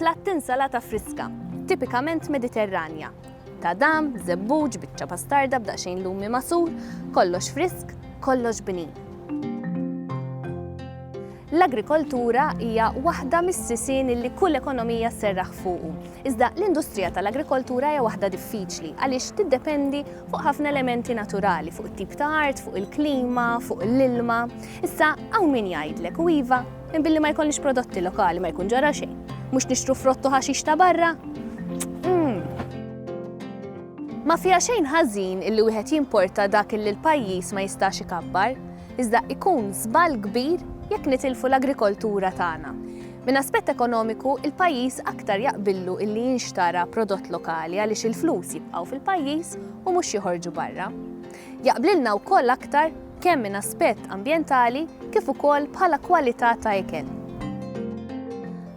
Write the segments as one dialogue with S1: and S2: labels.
S1: Platt insalata friska, tipikament Mediterranja. Tadam, żebbuġ, biċċa pastarda b'daqsxejn lumi masur, kollox frisk, kollox bnin. L-agrikoltura hija waħda mis-sisien li kull ekonomija sserraħ fuqu. Iżda l-industrija tal-agrikoltura hija waħda diffiċli għaliex tiddependi fuq ħafna elementi naturali, fuq it-tip ta' art, fuq il-klima, fuq l-ilma. Issa hawn min jgħidlek u iva Minn billi ma jkollix prodotti lokali ma jkun ġara xejn. Mhux nixtru frottu ħaxix ta' barra? Hmm. Ma fiha xejn ħażin illi wieħed jimporta dak illi l-pajjiż ma jistax ikabbar, iżda ikun żball kbir jekk nitilfu l-agrikoltura tagħna. Minn aspett ekonomiku, il-pajjiż aktar jaqbillu illi jinxtara prodott lokali għaliex il-flus jibqgħu fil-pajjiż u mhux joħorġu barra. Jaqblilna wkoll aktar kemm minn aspett ambjentali kif ukoll bħala kwalità ta' ikel.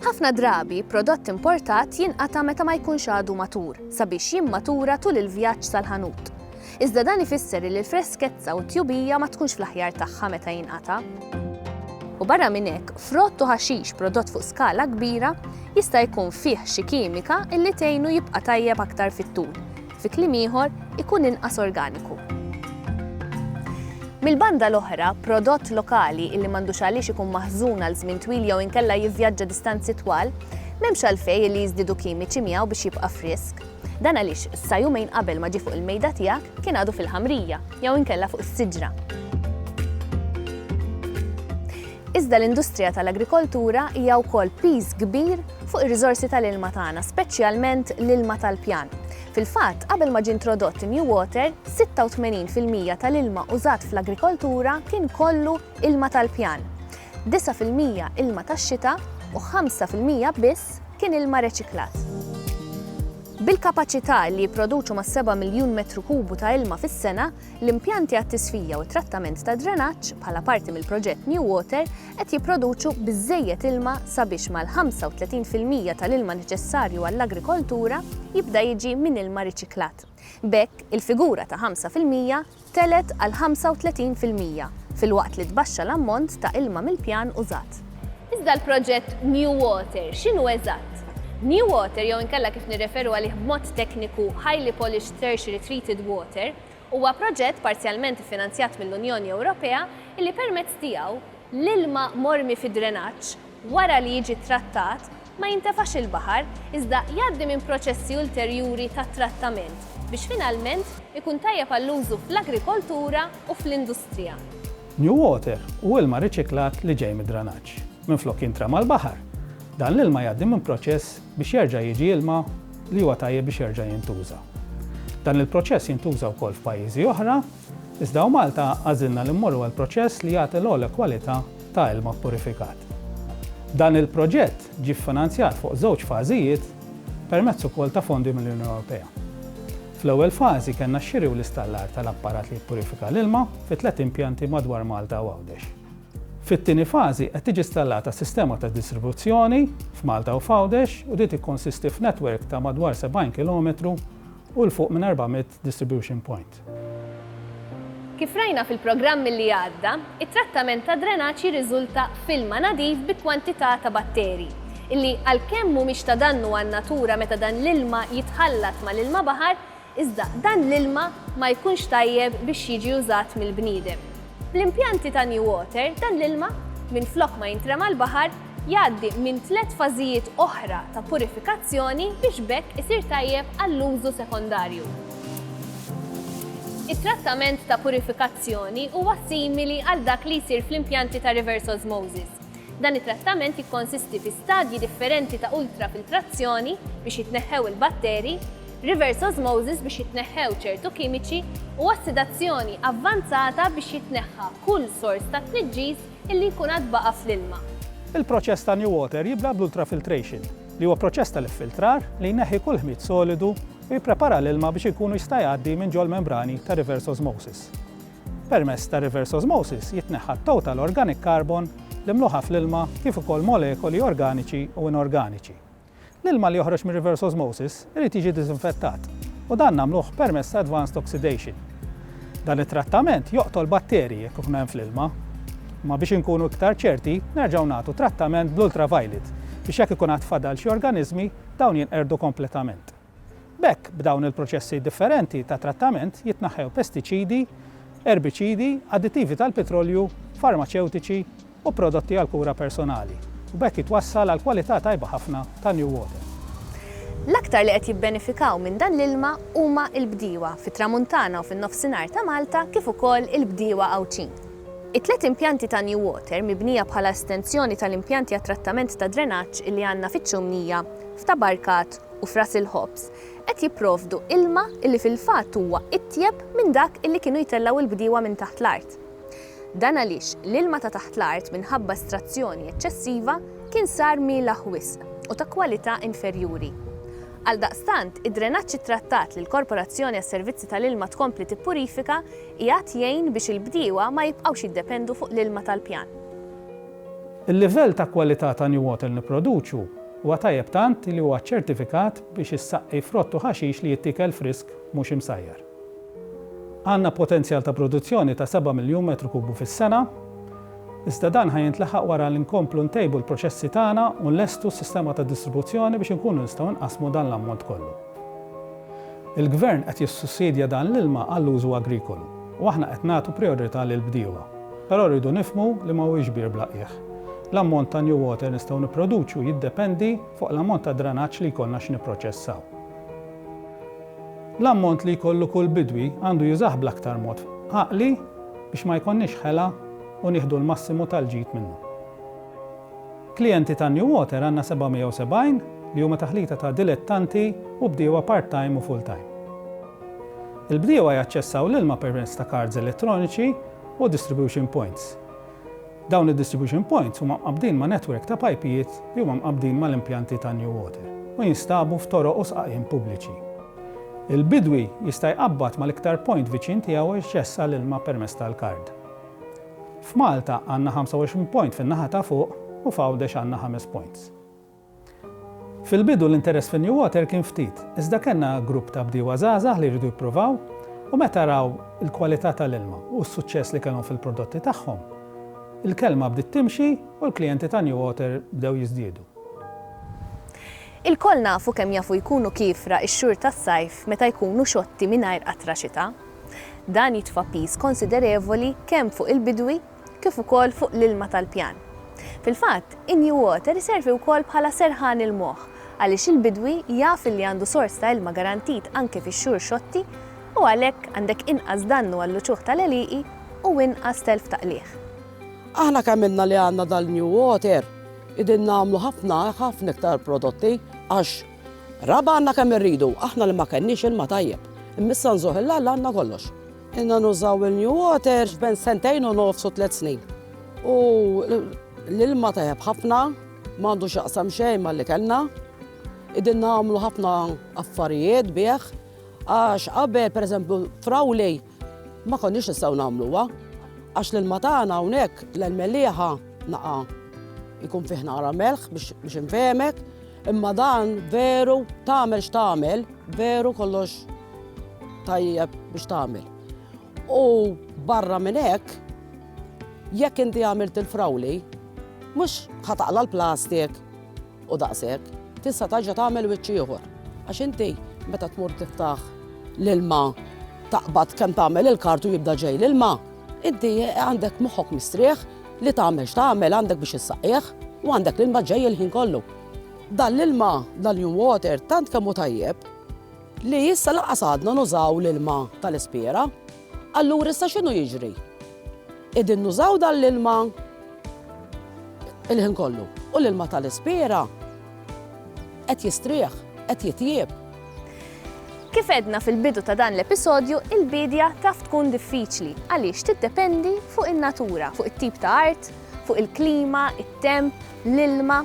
S1: Ħafna drabi, prodott importat jinqata' meta ma jkunx għadu matur, sabiex jimmatura tul il-vjaġġ sal-ħanut. Iżda dan ifisser li l-freskezza u t-tjubija ma tkunx fl-aħjar tagħha meta jinqata'. U barra minn hekk, frott u ħaxix prodott fuq skala kbira jista' jkun fih xi kimika illi tgħinu jibqa' tajjeb aktar fit-tul, Fi kliem ieħor, ikun inqas organiku. Mill-banda l-oħra, prodott lokali illi m'għandux għaliex ikun maħżun għal żmien twil jew inkella jivvjaġġa distanzi twal, m'hemmx għalfejn illi jiżdiedu kimiċi miegħu biex jibqa' frisk. Dan għaliex sa jumejn qabel ma ġie fuq il-mejda tiegħek kien għadu fil-ħamrija jew inkella fuq is-siġra. Iżda l-industrija tal-agrikoltura hija wkoll piż kbir fuq ir-riżorsi tal-ilma tagħna, speċjalment l-ilma tal-pjan. Fil-fatt, qabel ma ġie introdott in-New Water, 86 fil-mija tal-ilma użat fl-agrikoltura kien kollu ilma tal-pjan, 9 fil-mija ilma tax-xita u 5 fil-mija biss kien ilma reċiklat. Bil-kapaċità li jipproduċu mas-seba' miljun metru kubu ta' ilma fis-sena, L-impjanti għat-tisfija u t-trattament tad-drenaġġ, bħala parti mill-proġett New Water, qed jipproduċu biżżejjed ilma sabiex mal-35 fil-mija tal-ilma neċessarju għall-agrikoltura jibda jiġi minn ilma riċiklat. B'hekk, il-figura ta' 5 fil-mija tgħelet għal 35 fil-mija, filwaqt li tbaxxa l-ammont ta' ilma mill-pjan użat. Iżda l-proġett New Water x'inhu eżatt? New Water jew inkella kif nirreferu għalih b'mod tekniku Highly Polished Tertiary Treated Water huwa proġett parzjalment iffinanzjat mill-Unjoni Ewropea illi permezz tiegħu l-ilma mormi fid-drenaġġ wara li jiġi ttrattat ma jintefax il-baħar iżda jgħaddi minn proċessi ulterjuri ta' trattament biex finalment ikun tajjeb għall-użu fl-agrikoltura u fl-industrija. New water
S2: hu ilma riċiklat li ġej mid-dranaġġ. Minflok jintrema l-baħar, dan l-ilma jgħaddi minn proċess biex jerġa' jiġi ilma li huwa tajjeb biex jerġa' jintuża. Dan il-proċess jintuża wkoll f'pajjiżi oħra, iżda hawn Malta għażilna li mmorru għal proċess li jagħti l-ogħla kwalità ta' ilma ppurifikat. Dan il-proġett ġie ffinanzjat fuq żewġ fażijiet permezz ukoll ta' fondi mill-Unjoni Ewropea. Fl-ewwel fażi kellna x-xiri u l-istallar tal-apparat li jippurifika l-ilma fi tliet impjanti madwar Malta u Għawdex. Fit-tieni fażi qed tiġi stallata sistema ta' distribuzzjoni f'Malta u f'Għawdex u din tikkonsisti f'netwerk ta' madwar 70 kilometru u 'l fuq minn 400 distribution point.
S1: Kif rajna fil-programm li għadda, it-trattament tad-drenaġġ jirriżulta f'ilma nadif bi kwantità ta' batteri, illi għalkemm mhumiex ta' dannu għan-natura meta dan l-ilma jitħallat mal-ilma baħar, iżda dan l-ilma ma jkunx tajjeb biex jiġi użat mill-bniedem. Bl-impjanti ta' New Water dan l-ilma, minflok ma jintrema l-baħar, jgħaddi minn tliet fażijiet oħra ta' purifikazzjoni biex b'hekk isir tajjeb għall-użu sekondarju. It-trattament ta' purifikazzjoni huwa simili għal dak li jsir fl-impjanti ta' reverse osmosis. Dan it-trattament jikkonsisti fi stadji differenti ta' ultrafiltrazzjoni biex jitneħħew il-batteri, reverse osmosis biex jitneħħew ċertu kimiċi, u ossidazzjoni avvanzata biex jitneħħa kull sors ta' tniġġis illi jkun għad baqa' fl-ilma. Il-proċess ta'
S2: NewWater jibda bl-ultrafiltration, li huwa proċess tal-iffiltrar li jneħħi kull ħmid solidu u jipprepara l-ilma biex ikunu jista' jgħaddi minn ġol-membrani ta' reverse osmosis. Permezz ta' reverse osmosis jitneħħa t-total organic carbon li mluħa fl-ilma kif ukoll molekoli organiċi u inorganiċi. L-ilma li joħroġ mir-reverse osmosis irid jiġi diżinfettat u dan nagħmluh permezz ta' advanced oxidation. Dan it-trattament joqtol batterji jekk ikun hemm fl-ilma. Imma biex inkunu iktar ċerti, nerġgħu nagħtu trattament bl-ultraviolet biex jekk ikun għad fadal xi organiżmi, dawn jinqerdu kompletament. B'hekk, b'dawn il-proċessi differenti ta' trattament jitnaħħew pestiċidi, erbiċidi, additivi tal-pitrolju, farmaċewtiċi u prodotti għall-kura personali, u b'hekk jitwassal għal kwalità tajba ħafna ta' new water.
S1: L-aktar li qed jibbenefikaw minn dan l-ilma huma l-bdiewa fit-Tramuntana u fin-Nofsinhar ta' Malta kif ukoll il-bdiewa Għawdxin. It-tliet impjanti ta' new water mibnija bħala estensjoni tal-impjanti għat-trattament tad-drenaġġ li għandna fiċ-Ċumnija, f'Tabarkat u f'ras il-ħobż, qed jipprovdu ilma illi fil-fatt huwa itjeb minn dak illi kienu jtellgħu l-bdiewa minn taħt l-art. Dan għaliex l-ilma ta' taħt l-art minħabba estrazzjoni eċċessiva kien sar mielaħ wisq u ta' kwalità inferjuri. Għaldaqstant, id-drenaġġ ittrattat li l-Korporazzjoni għas-Servizzi tal-Ilma tkompli tippurifika qiegħed jgħin biex il-bdiewa ma jibqgħux jiddependu fuq l-ilma tal-pjan.
S2: Il-livell ta' kwalità ta' New Water li nipproduċu huwa tajjeb tant li huwa ċċertifikat biex issaqqi frott u ħaxix li jittiekel frisk mhux imsajjar. Għandna potenzjal ta' produzzjoni ta' seba' miljun metru kubu fis-sena, iżda dan ħa jintlaħaq wara li nkomplu ntejbu l-proċessi tagħna u nlestu s-sistema ta' distribuzzjoni biex inkunu nistgħu nqassmu dan l-ammont kollu. Il-Gvern qed jissussidja dan l-ilma għall-użu agrikolu u aħna qed nagħtu prijorità lill-bdiewa. Però rridu nifhmu li ma huwiex bir bla qiegħ. L-ammont ta' new water nistgħu nipproduċu jiddependi fuq l-ammont ta' dranaġġ li jkollna x'nipproċessaw. L-ammont li jkollu kull bidwi għandu jużah bl-aktar mod għaqli biex ma jkollniex ħela u nieħdu l-massimu tal-ġid minnu. Klijenti ta' New Water għandna 770 li huma taħlita ta' dilettanti u bdiewa part-time u full-time. Il-bdiewa jaċċessaw l-ilma permezz ta' kards elettroniċi u distribution points. Dawn id-distribution points huma mqabbdin ma' netwerk ta' pajpijiet li huma mqabbdin mal-impjanti ta' New Water u jinstabu f'toroq u sqaqien pubbliċi. Il-bidwi jista' jqabbad mal-iktar point viċin tiegħu u jaċċessa l-ilma permezz tal-kard. F'Malta għandna 25 point fin-naħa ta' fuq u f'Għawdex għandna ħames points. Fil-bidu l-interess fin-Newater kien ftit, iżda kellna grupp ta' bdiewa żgħażagħ li jridu jippruvaw u meta raw il-kwalità tal-ilma u s-suċċess li kellhom fil-prodotti tagħhom, il-kelma bdiet timxi u l-klijenti ta' Newater bdew jiżdiedu. Ilkoll
S1: nafu kemm jafu jkunu kiefra x-xhur tas-sajf meta jkunu xotti mingħajr qatra xita. Dan jitfa' piż konsiderevoli kemm fuq il-bidwi kif ukoll fuq l-ilma tal-pjan. Fil-fatt, in-new water iservi wkoll bħala serħan il-moħħ għaliex il-bidwi jaf li għandu sors ta' ilma garantit anke fix-xhur xotti u għalhekk għandek inqas dannu għall-uċuħ tal-għelieqi u inqas telf ta' qligħ. Aħna kemm
S3: ilna li għandna dal-new water, qegħdin nagħmlu ħafna, ħafna iktar prodotti għax Raba' għandna kemm irridu, aħna li ma kenniex ilma tajjeb. Imma issa nżugħ il Alla għandna kollox. Ilna nużaw il-New Water bejn sentejn u nofs u tliet snin. U l-ilma tajjeb ħafna, ma għandu x'jaqsam xejn mal-li kellna. Qegħdin nagħmlu ħafna affarijiet bih għax qabel pereżempju f'Rawley Ma konniex nistgħu nagħmluha għax l-ilma tagħna hawnhekk l-melliħa naqa' jkun fih nara melħ biex infehmek, imma dan veru tagħmel x'tagħmel, veru kollox tajjeb biex tagħmel. U barra minn hekk, jekk inti għamilt il-frawli, mhux ħataqla l-plastik, U daqshekk, tista' tarġa' tagħmel wiċċ ieħor. Għax inti meta tmur tiftaħ l-ilma taqbad kemm tagħmel il-kart u jibda ġej l-ilma, inti għandek moħħok mistrieħ li tagħmel x'tagħmel għandek biex issaqqieh u għandek l-ilma ġej il-ħin kollu. Dan l-ilma, dan new water, tant kemm hu tajjeb li issa laqas għadna nużaw l-ilma tal-ispiera. Allura issa x'inhu jiġri? Qegħdin nużaw dan l-ilma il-ħin kollu u l-ilma tal-ispiera qed jistrieħ, qed jitjieb.
S1: Kif għedna fil-bidu ta' dan l-episodju, il-bidja taf tkun diffiċli għaliex tiddependi fuq in-natura, fuq it-tip ta' art, fuq il-klima, it-temp, l-ilma.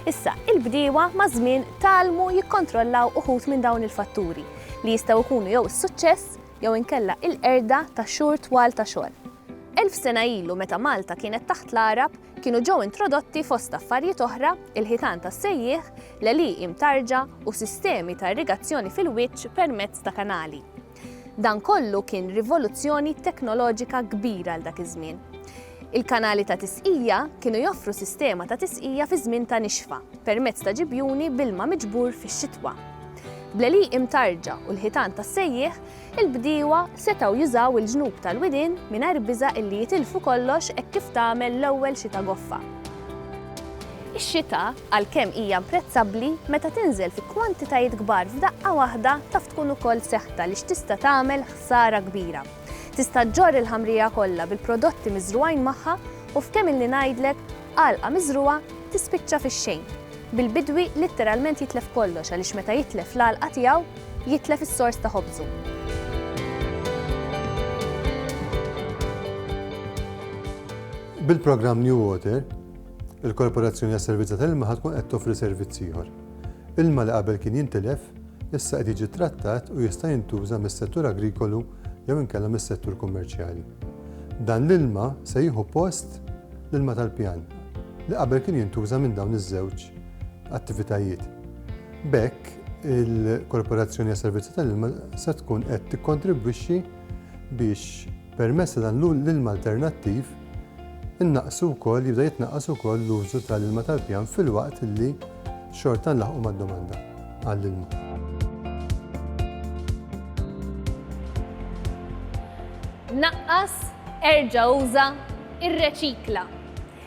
S1: Issa, il-bdiewa ma' żmien talmu jikkontrollaw uħut minn dawn il-fatturi li jistgħu jkunu jew is-suċċess jew inkella il-qerda ta' xhur twal ta' xogħol. Elf sena ilu meta Malta kienet taħt l-Għarab, kienu ġew introdotti fost affarijiet oħra il-ħitan tas-sejjieħ, l-għelieqi mtarġa u sistemi ta' irrigazzjoni fil-wiċċ permezz ta' kanali. Dan kollu kien rivoluzzjoni teknoloġika kbira għal dak iż-żmien. Il-kanali ta' tisqija kienu joffru sistema ta' tisqija fi żmien ta' nixfa permezz ta' ġibjuni b'ilma miġbur fix-xitwa. Bl-għelieqi mtarrġa u l-ħitan tas-sejjieħ, il-bdiewa setgħu jużaw il-ġnub tal-widien mingħajr biża' illi jitilfu kollox hekk kif tagħmel l-ewwel xita goffa. Ix-xita, għalkemm hija imprezzabbli, meta tinżel fi kwantitajiet kbar f'daqqa waħda taf tkun ukoll seħta għaliex tista' tagħmel ħsara kbira. Tista' ġġorr il-ħamrija kollha bil-prodotti miżrugħin magħha u f'kemm ilni ngħidlek, għalqa miżrugħa tispiċċa fix-xejn, bil-bidwi litteralment jitlef kollox għaliex meta jitlef l-għalqa tiegħu, jitlef is-sors ta' ħobżu.
S4: Bil-programm New Water, il-Korporazzjoni għas-Servizz tal-Ilma ħad tkun qed toffri servizz ieħor. Ilma li qabel kien jintilef, issa qed jiġi ttrattat u jista' jintuża mis-settur agrikolu jew inkella mis-settur kummerċjali. Dan l-ilma se jieħu post l-ilma tal-pjan li qabel kien jintuża minn dawn iż-żewġ attivitajiet. B'hekk, il-Korporazzjoni għas-Servizzi tal-Ilma se tkun qed tikkontribwixxi biex Permezz ta' dan l-ilma alternattiv innaqqsu wkoll, jibda jitnaqqas ukoll l-użu tal-ilma tal-pjan filwaqt li xorta nlaħqu mad-domanda għall-ilma. Naqqas,
S1: erġa' uża, irreċikla.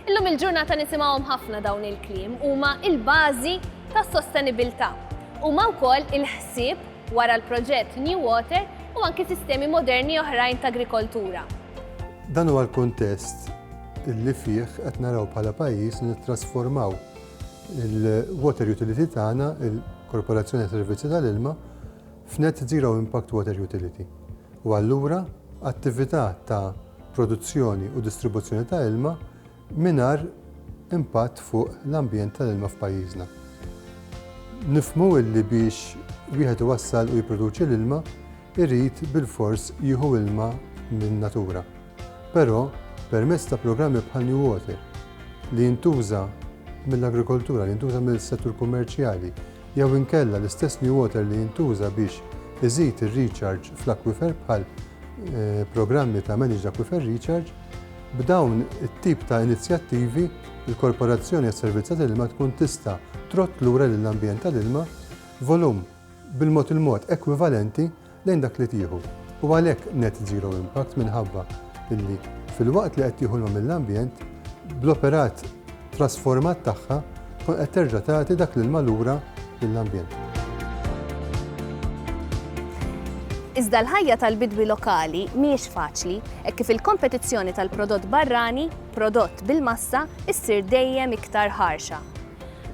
S1: Illum il-ġurnata nisimgħuhom ħafna dawn il-kliem, huma l-bażi tas-sostenibilità. Huma wkoll il-ħsieb wara l-proġett New Water u anki sistemi moderni oħrajn ta' agrikoltura. Dan huwa
S4: l-kuntest li fih qed naraw bħala pajjiż li nittrasformaw il-water utility tagħna, il-Korporazzjoni għas-Servizzi tal-Ilma, f'Net Zero Impact Water Utility u allura attività ta' produzzjoni u distribuzzjoni ta' ilma mingħajr impatt fuq l-ambjent tal-ilma f'pajjiżna. Nifhmu li biex wieħed iwassal u jipproduċi l-ilma, irid bilfors jieħu ilma min-natura. Però, permezz ta' programmi bħal New Water, li jintuża mill-agrikoltura, li jintuża mis-settur kummerċjali, jew inkella l-istess New Water li jintuża biex iżid ir-recharge fl-akwifer bħal eh, programmi ta' Managed Aquifer Recharge, b'dawn it-tip ta' inizjattivi il-Korporazzjoni għas-Servizz tal-Ilma tkun tista' trott lura lill-ambjent tal-ilma volum bil-mod il-mod ekwivalenti lejn dak li tieħu u għalhekk net zero impact minħabba li filwaqt li qed tieħu l-ma mill-ambjent, bl-operat trasformat tagħha tkun qed terġa' tagħti dak l-ilma lura lill-ambjent.
S1: Iżda l-ħajja tal-bidwi lokali mhijiex faċli hekk kif il-kompetizzjoni tal-prodott barrani, prodott bil-massa, issir dejjem iktar ħarxa.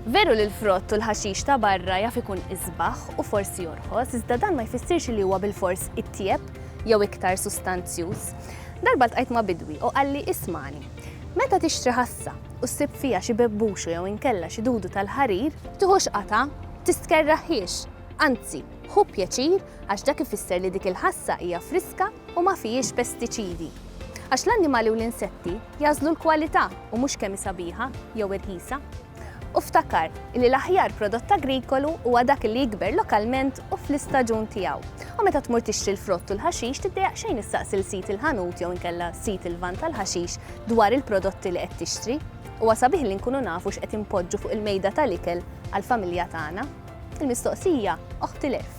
S1: Veru li l-frott u l-ħaxix ta' barra jaf ikun isbaħ u forsi jorħos, iżda dan ma jfissirx li huwa bilfors itjieb jew iktar sustanzjuż. Darba ltqajt ma' bidwi u qalli ismagħni, meta tixtri ħassa u ssib fiha xi bebbuxu jew inkella xi dudu tal-ħarir, tiħux qatgħa, tistkerraħhiex, anzi, ħu pjaċir għax dak ifisser li dik il-ħassa hija friska u ma fihiex pestiċidi. Għax l-annimali u l-insetti jagħżlu l-kwalità u mhux kemm hi sabiħa jew irħisa. U ftakar li l-aħjar prodott agrikolu huwa dak li jikber lokalment u fl-istaġun tiegħu. U meta tmur tixtri l-frott u l-ħaxix tiddejjaq xejn issaqsi l sid il-ħanut jew inkella sid il-van tal-ħaxix dwar il-prodotti li qed tixtri. Huwa sabiħ li nkunu nafu x'qed inpoġġu fuq il-mejda tal-ikel għall-familja tagħna. Il-mistoqsija oħtilef.